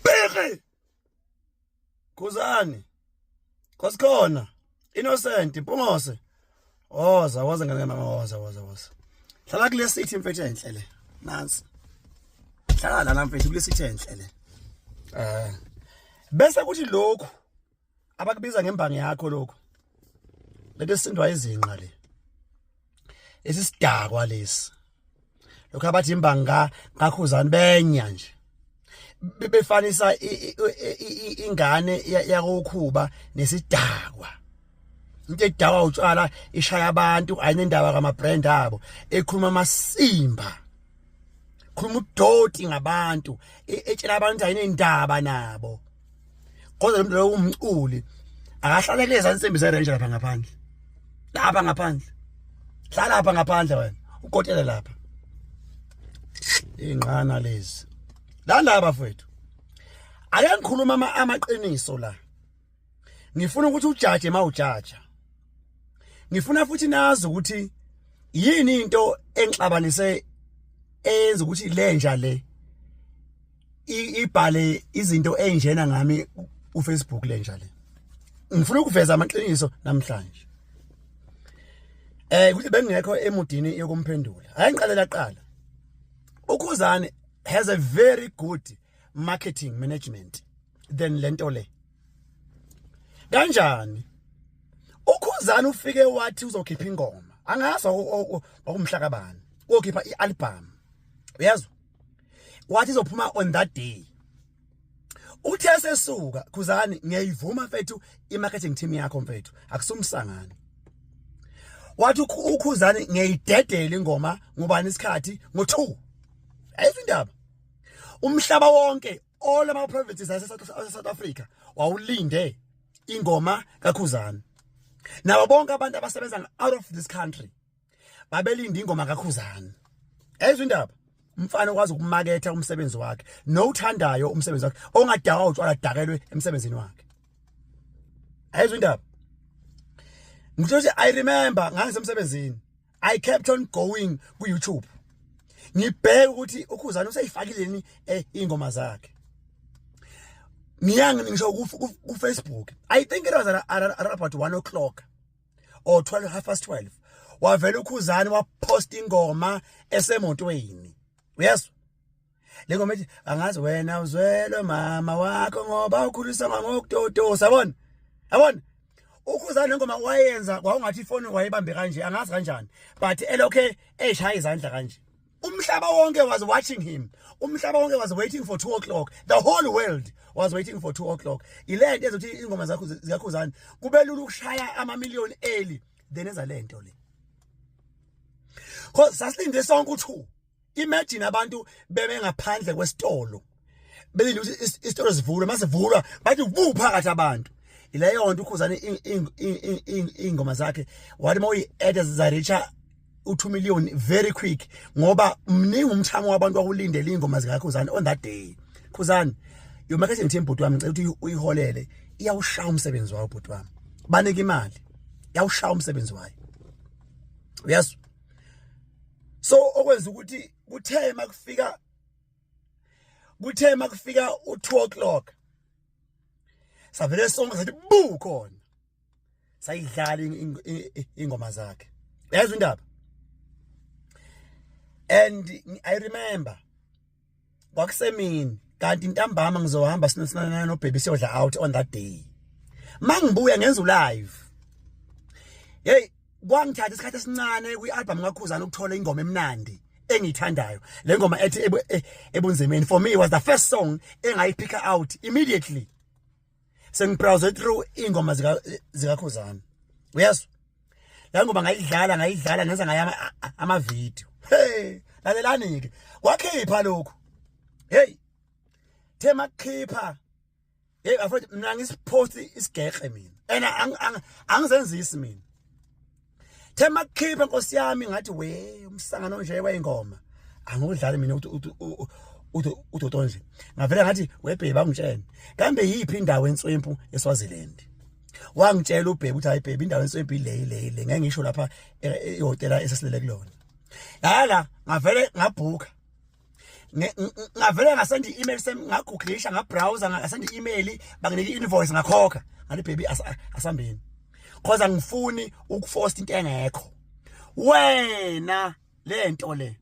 Bheke. Khuzani. Kosikhona. Innocent Mpungose. Oza waze ngane mama waza waza waza. Hlala kule city mfethu enhle le. Nansi. Hlala la mfethu kule city enhle le. Eh. Bese kuthi lokhu abakubiza ngembangi yakho lokho lento esindwa izinqa le lesi sidakwa lesi lokho abathi imbangi ka kakhuzani benya nje bebefanisa ingane yakokhuba nesidakwa into edakwa utshwala ishaya abantu ayinendaba kama brand abo ekhuluma amasimba khuluma udoti ngabantu etshela abantu ayinendaba nabo kodwa lo mntu lowo umculi akahlale kulezi ansimbi zerenje lapha ngaphandle lapha ngaphandle hlala lapha ngaphandle wena ukotele lapha ingqana lezi la ndaba fethu ake ngikhuluma amaqiniso la ngifuna ukuthi ujaje mawujaja ngifuna futhi nazi ukuthi yini into engixabanise eyenza ukuthi lenja le ibhale izinto enjena ngami uFacebook lenja le ngifuna ukuveza amaqiniso namhlanje eh kuthi bengekho emudini yokumphendula ayangiqalela qala ukhuzane has a very good marketing management than lento le kanjani ukhuzane ufike wathi uzokhipha ingoma angazi wakumhlakabani uyokhipha ialbum uyezwa wathi izophuma on that day uthe sesuka khuzani ngiyayivuma mfethu imarketing team yakho mfethu akusumsangani wathi ukhuzani ngiyayidedela ingoma ngubani isikhathi ngo2 ayizindaba umhlaba wonke all ama provinces ase South Africa wawulinde ingoma kakhuzani nabo bonke abantu abasebenza out of this country babelinda ingoma kakhuzana ezwe indaba umfana okwazi ukumaketha umsebenzi wakhe nowuthandayo umsebenzi wakhe ongadakwa utshwala dakelwe emsebenzini wakhe ayizwe indaba ngisho nje i remember ngangisemsebenzini i kept on going ku YouTube ngibheke ukuthi ukhuzana useyifakileni eh, ingoma zakhe ngiyangi ngisho ku Facebook i think it was around about 1 o'clock or 12 half past 12 wavela ukhuzani wapost ingoma esemotweni uyezwa lengoma ethi angazi wena uzwelwe mama wakho ngoba ukhulisa ngokutotosa yabona yabona ukhuzani lengoma wayenza kwaungathi ifoni wayebambe kanje angazi kanjani but elokhe eshaya izandla kanje umhlaba wonke was watching him umhlaba wonke was waiting for 2 o'clock the whole world was waiting for 2 o'clock ile nto ezothi ingoma zakho zikakhuzani kube lula ukushaya ama million eli then eza le nto le cause sasilinde sonke u2 imagine abantu bebe ngaphandle kwesitolo belinde ukuthi isitolo sivulwe mase vulwa bathi bu phakathi abantu ileyo nto ukhuzane ingoma zakhe wathi uma uyi-add zareacha u-2 million very quick ngoba mningi umthamo wabantu wakulindela iy'ngoma zikakhuzane on that day khuzane your marketing team bhuti wami ngicela ukuthi uyiholele iyawushaya umsebenzi wayo bhuti wami banike imali iyawushaya umsebenzi wayo uyazwa so okwenza ukuthi kuthe makufika kuthe makufika u2 o'clock savele sonke sathi bu khona sayidlala ingoma zakhe yazi indaba and i remember kwakusemini kanti intambama ngizohamba sinosinana no baby siyodla out on that day mangibuya ngenza live hey kwangithatha isikhathi esincane kwi-album kakhuzana ukuthola ingoma emnandi engiyithandayo le ngoma ethi e, ebunzimeni for me it was the first song engayiphika out immediately sengibrowse through ingoma zikakhuzana uyezwa la ngoba ngayidlala ngayidlala ngenza ngaye amavidiyo hey lalelani-ke wakhipha lokhu heyi the makhipha hey afethu mina ngisiphosti isigexe mina and angizenzisi mina thema khipha nkosi yami ngathi we umsangano nje wayingoma angudlali mina ukuthi udodo nje ngavele ngathi webheba ngitshene kambe yiphi indawo entswempu eSwaziland wangitshela ubhebe ukuthi hayi bhebe indawo enswempi le le le ngeke ngisho lapha e, e, ihotela esesilele kulona lala ngavele ngabhuka ngavele ngasenda i-email sami ngagugulisha ngabrowser ngasenda i-email banginika i-invoice ngakhokha ngathi baby asambeni cause angifuni ukufosta into engekho wena le nto le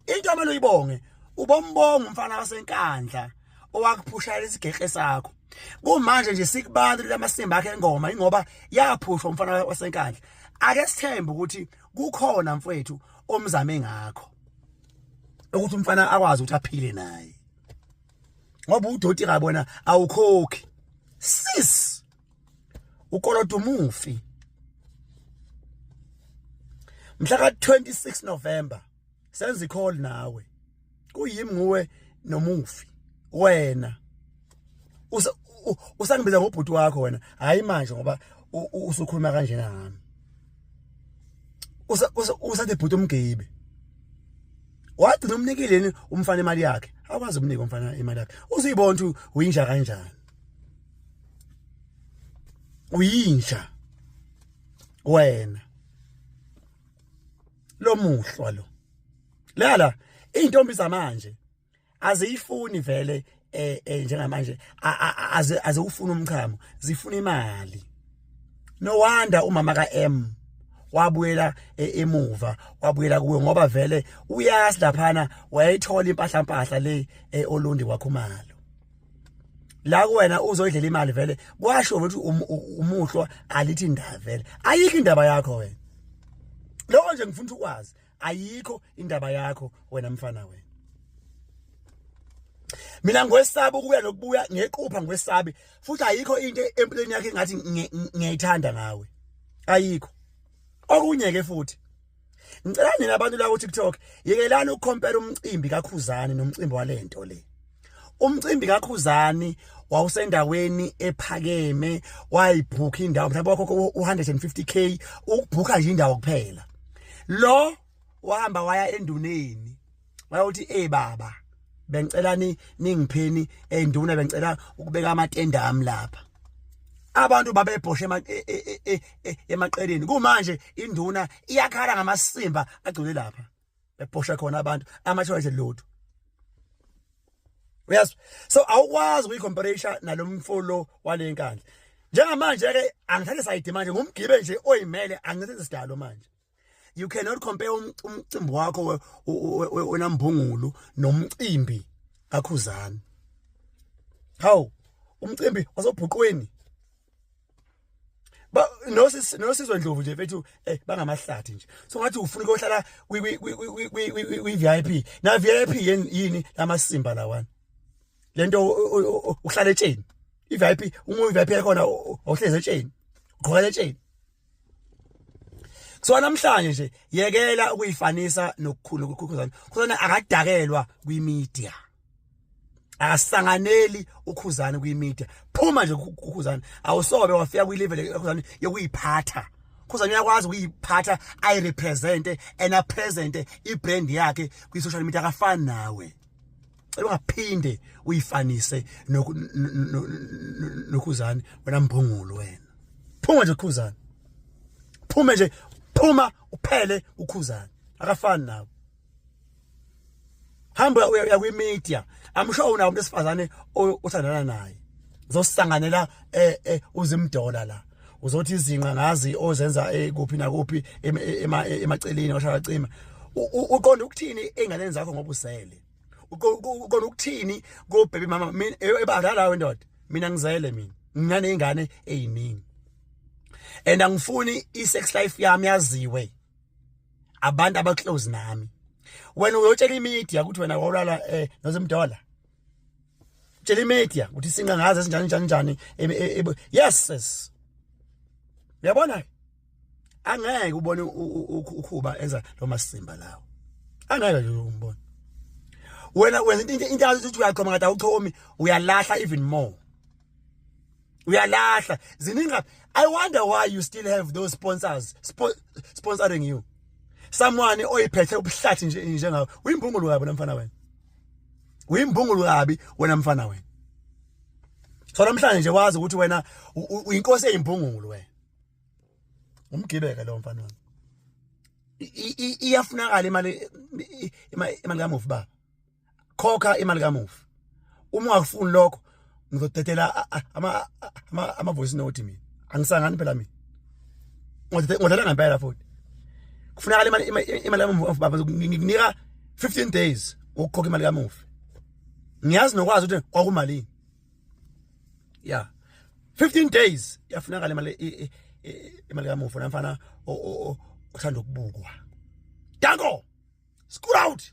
into amele uyibonge ubombonga umfana wasenkandla owakuphushela isigekhe sakho kumanje nje sikubantu lamasimba akhe engoma ingoba yaphushwa umfana wasenkandla ake sithembe ukuthi kukhona mfwethu omzame ngakho ukuthi umfana akwazi ukuthi aphile naye ngoba udoti kabona awukhokhi sis ukolodo umufi mhla ka 26 November senza icall nawe kuyimi nguwe nomufi wena usangibiza ngobhuti wakho wena hayi manje ngoba usukhuluma kanjena ngami usa usathi bhuti umgeyibe wagcina umnikileni umfana imali yakhe akwazi ukunika umfana imali yakhe uzuyibona ukuthi uyinja kanjani uyinja wena lomuhlwa lo lala izintombi zamanje aziyifuni vele eh, eh njengamanje aze aze ufuna umchamo zifuna imali no wonder umama ka M wabuyela e, emuva wabuyela kuwe ngoba vele uyazi laphana wayithola impahla mpahla le e, olundi wakhumalo la kuwena uzoyidlela imali vele kwasho ukuthi um, umuhlwa alithi indaba vele ayikho indaba yakho wena lokho nje ngifuna ukwazi ayikho indaba yakho wena mfana wena mina ngwesaba ukuya nokubuya ngequpha ngwesabi futhi ayikho into empilweni yakhe ngathi ngiyayithanda ngawe ayikho okunye ke futhi ngicela nina abantu la ku TikTok yekelani ukucompare umcimbi kakhuzani nomcimbi walento le umcimbi kakhuzani wawusendaweni ephakeme wayibhukha indawo mhlawumbe wakhokho u-150k ukubhukha nje indawo kuphela lo wahamba waya enduneni wayawuthi ey baba bengicela ni ningipheni enduna bengicela ukubeka amatende ami lapha abantu babebhoshe e, e, e, emaqeleni kumanje induna iyakhala ngamasimba agcwele lapha bephosha khona abantu amashona nje lutho yes so awukwazi ukuyicomparison nalomfolo walenkandla njengamanje ke angithathe side manje ngumgibe nje oyimele angithathe sidalo manje you cannot compare um, umcimbi wakho onambungulu nomcimbi kakhuzani how umcimbi wasebhuqweni ba nosis nosizwe ndlovu nje mfethu eh bangamahlathi nje so ngathi ufuna ukuhlala kwi kwi kwi VIP na VIP yini lamasimba lawana lento uhlala etsheni i VIP uma u VIP yakhona awuhlezi etsheni ugqoka etsheni so namhlanje nje yekela ukuyifanisa nokukhulu ukukhuzana khuzana akadakelwa kwi media akasanganeli ukhuzani kwimedia phuma nje ukhuzani awusobe wafika kwilevel ekhuzani yokuyiphatha khuzani uyakwazi ukuyiphatha ayirepresente and apresente ibrand yakhe kwi-social media akafani nawe cela ungaphinde uyifanise nokhuzani wena mbhungulu wena phuma nje ukhuzani phuma nje phuma uphele ukhuzani akafani nawe hamba uya kwi media i'm sure unawo umuntu esifazane othandana naye uzosisanganela eh, eh uzimdola la uzothi izinqa ngazi ozenza eh, kuphi nakuphi emaceleni washaya cima uqonda ukuthini ingane zakho ngoba usele uqonda ukuthini ko baby mama mina e, ebadala wendoda mina ngizele mina nginane ingane eziningi and angifuni i sex life yami yaziwe abantu aba close nami wena uyotshela imedia ukuthi wena wawulala eh nozimdola tshela imedia ukuthi sinqa ngaze sinjani njani njani e, e, e, yes sis uyabona angeke ubone ukhuba enza lo masimba lawo angeke nje umbone wena wenza into into uthi uyaqoma ngathi awuchomi uyalahla even more uyalahla zininga i wonder why you still have those sponsors spo sponsoring you someone oyiphethe ubuhlathi nje njengawe uyimbungulu kabi namfana wena uyimbungulu kabi wena mfana wena so namhlanje nje wazi ukuthi wena uyinkosi eyimbungulu wena umgibeke lo mfana wami iyafunakala imali imali kamufi baba khokha imali kamufi uma ungakufuni lokho ngizodedela ama ama ama voice note mina angisangani phela mina ngodedela ngempela futhi kufunakala imali imali kamufi baba ngikunika 15 days ukukhokha imali kamufi ngiyazi nokwazi ukuthi kwakumalini ya 15 days yafunakala imali imali kamufi namfana othanda ukubukwa danko Scoot out.